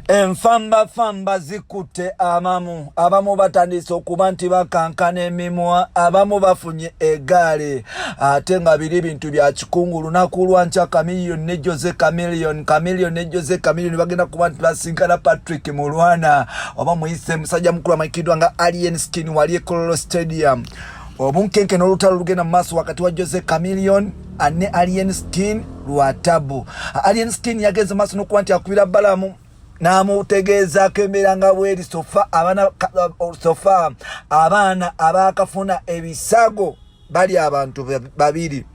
enfambafamba zikutte amamu abamu batandise okuba nti bakankana emimwa abamu bafunye egaali ate nga biri bintu bya kikungu lunaku lwankya kamiliyoni ne jose kamiliyoni kamiliyoni ne jose kamiliyoni bagenda kuba nti basinkana patrick mulwana oba muyise musajja mukulu amanyikiddwa nga alien skin wali ekololo stadium obunkenke n'olutalo lugenda mu maaso wakati wa jose kamiliyoni ne alien skin lwa tabu alien skin yagenze maaso nokuba nti akubira balamu namutegeezaako embeera nga bweri sofa abaana sofa abaana abakafuna ebisago bali abantu babiri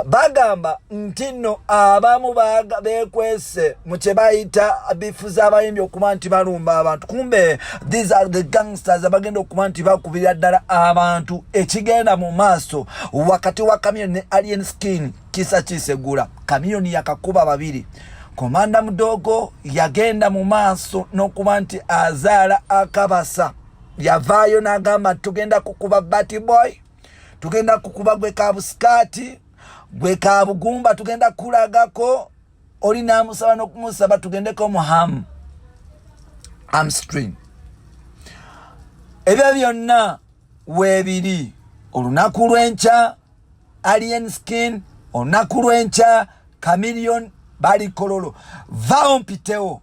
bagamba nti nno abamu bekwesa batusse mu kye bayita bifuza abayimbi okuba nti balumba abantu kumbe these are the gangsters abagenda okuba nti bakubirira ddala abantu ekigenda mu maaso wakati wa kamion ne alien skin kisa kisegula kamion yakakuba babiri komanda mudogo yagenda mu maaso n'okuba nti azaala akabasa yavaayo n'agamba nti tugenda kukuba baty boy tugenda kukuba gwe ka busikaati gwe ka bugumba tugenda kulagako oli n'amusaba n'okumusaba tugendeko mu hamu amstream ebyo byonna weebiri olunaku lw'enkya alien skin olunaku lw'enkya camilion balikololo vawo mpitewo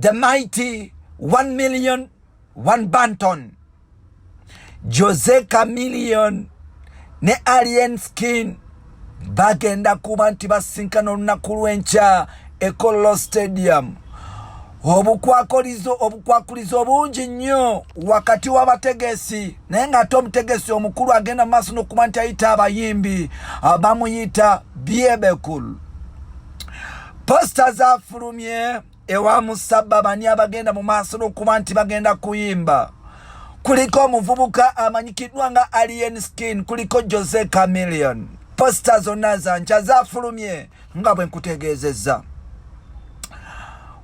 the mighty one million one banton jose camillion ne alien skin bagenda kuba nti basinkana olunaku lwenkya ekololo stadium obukwakolizo obukwakulizo obungi nnyo wakati w'abategesi naye ng'ate omutegesi omukulu agenda mu maaso n'okuba nti ayita abayimbi bamuyita biebekulu posita zafulumye ewa musabba bani abagenda mu maaso n'okuba nti bagenda kuyimba kuliko omuvubuka amanyikiddwa nga alien skin kuliko jose camilion posita zonna zankya zafulumye nga bwe nkutegeezezza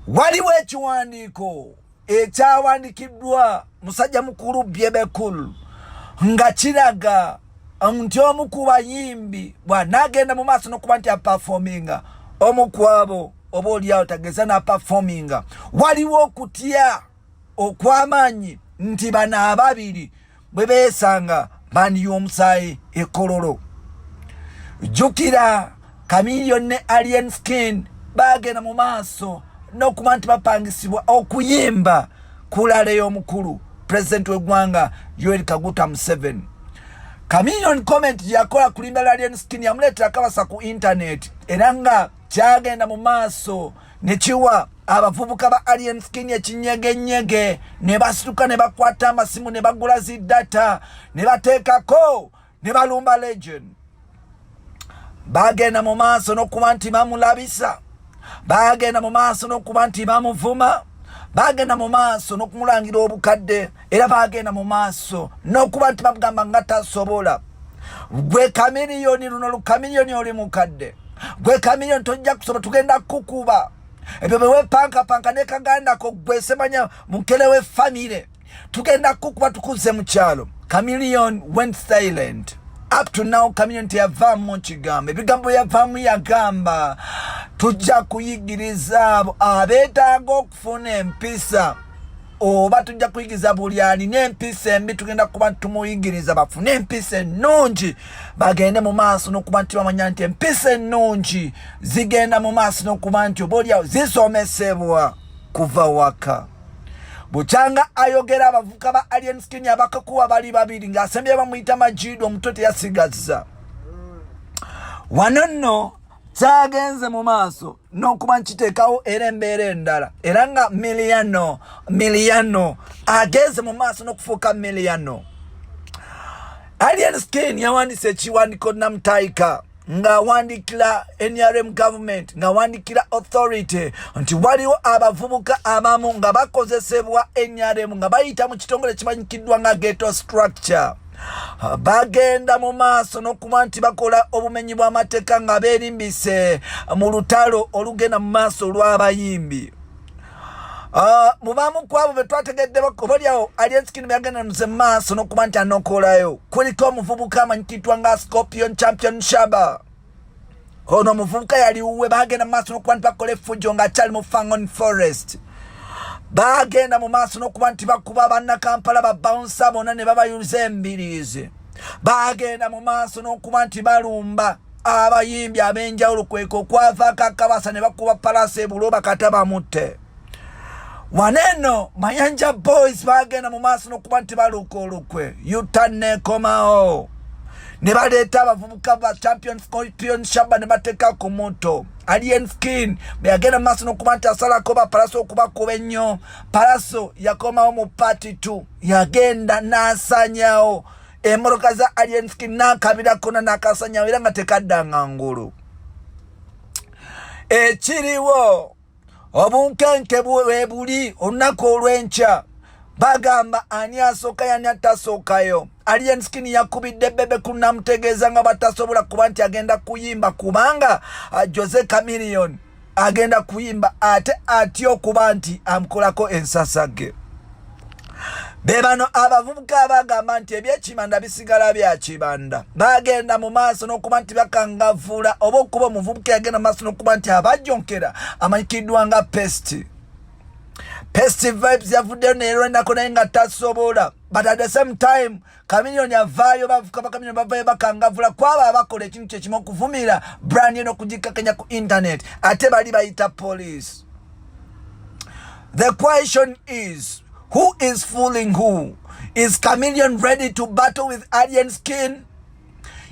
waliwo ekiwandiiko ekyawandikiddwa musajja mukulu byebekul nga kiraga nti omu ku bayimbi bwanaagenda mu maaso n'okuba nti apafominga omu kwabo oba olyawo tageza n'apafominga waliwo okutya okw'amaanyi nti bano ababiri bwe beesanga bandi y'omusaayi ekololo jjukira kamiliyoni ne alien skin baagenda mu maaso n'okuba nti bapangisibwa okuyimba ku laale y'omukulu pulezidenti w'eggwanga yoeri kaguta museven kamiliyoni comment yakola kulimba alien skin yamuleetera kabasa ku intaneti era nga kyagenda mu maaso ne kiwa abavubuka ba alien skin ekinyegenyege ne basituka ne bakwata amasimu ne bagula zi data ne bateekako ne balumba legend bagenda mu maaso n'okuba nti bamulabisa bagenda mu maaso n'okuba nti bamuvuma bagenda mu maaso n'okumulangira obukadde era bagenda mu maaso n'okuba nti bagamba nga tasobola gwe kamiriyoni luno lukamiriyoni oli mukadde gwe kamiriyoni tojja kusoba tugenda kukuba ebyo bewepankapanka ne kagandako gwe semanya mukele we famire tugenda kukuba tukuze mu kyalo kamiriyoni went silent up to now kamiriyoni teyavaamu kigambo ebigambo yavaamu yagamba tujja kuyigiriza abo abeetaaga funa empisa oba tujja kuyigiza buli alina empisa embi tugenda kuba tumuyigiriza bafune empisa ennungi bagende mu maaso n'okuba nti bamanya nti empisa ennungi zigenda mu maaso n'okuba nti oba olyawo zisomesebwa kuva waka bukyanga ayogera abavuka ba alien skin abakakuwa bali babiri ng'asembye bamuyita majiidu omutwe teyasigazza wano nno kyagenze mu maaso n'okuba nkiteekawo era embeera endala era nga miliyano miliyano agenze mu maaso n'okufuuka miliyano alien skin yawandiisa ekiwandiiko namutaika ng'awandiikira nrm government ng'awandiikira authority nti waliwo abavubuka abamu nga bakozesebwa nrm nga bayita mu kitongole kimanyikiddwa nga geto structure bagenda mu maaso n'okuba nti bakola obumenyi bw'amateeka nga beerimbise mu lutalo olugenda mu maaso olw'abayimbi ah, mu bamu ku abo be twategeddeko obalyawo ali ensikini byagenda nze mu maaso n'okuba nti anokoolayo kuliko omuvubuka amanyikitwa nga scorpion champion shaba ono omuvubuka yali wuwe bagenda mu maaso n'okuba nti bakola effujo ng'akyali mu fangon forest bagenda mu maaso n'okuba nti bakuba bannakampala babawunsa bona ne babayuza embiriizi bagenda mu maaso n'okuba nti balumba abayimbi ab'enjawulo kweka okwavaako akabasa ne bakuba palaasi ebulo bakata bamutte waneno mayanja boys bagenda mu maaso n'okuba nti baluuka olukwe yuta nekomawo ne baleeta abavubuka ba champion scorpion shaba ne bateeka ku muto alien skin bwe yagenda mu maaso n'okuba nti asalako bapalaso okubakuba ennyo palaso yakomawo mu paati t yagenda n'asanyawo emmotoka za alien skin n'akabirakkona n'akasanyawo era nga tekaddanga ngulu ekiriwo obunkenke bwebuli olunaku olw'enkya bagamba ani asooka yani atasookayo alien skin yakubidde bebe ku namutegeeza nga batasobola kuba nti agenda kuyimba kubanga uh, jose camilion agenda kuyimba ate atya okuba nti amukolako ensasage be bano abavubuka abagamba nti ebyekibanda bisigala bya kibanda bagenda mu maaso n'okuba nti bakangavuula oba okuba omuvubuka yagenda mu maaso n'okuba nti abajonkera amanyikiddwa nga pesti pesti vibes yavuddeyo neerwanako naye nga tasobola but at the same time Chameleone avaayo bavuka ba Chameleone bavayo bakangavula kwabo abakola ekintu kyekimu okuvumirira brand eno okugikakanya ku internet ate bali bayita police the question is who is fooling who is Chameleone ready to battle with alien skin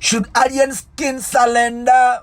should alien skin surrender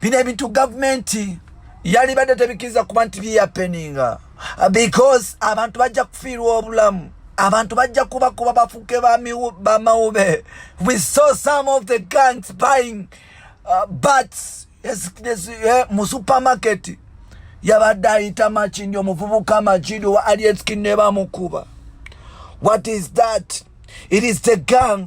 bino ebintu gavumenti yalibadde tebikiriza kuba nti byeyapeninga because abantu bajja kufiirwa obulamu abantu bajja kuba kuba bafuke bamawube we saw some of the gangs buying uh, bats yes, yes, yeah, mu supermarket yabadde ayita makindi omuvubuka makindi owa alietskin nebamukuba what is that it is the gang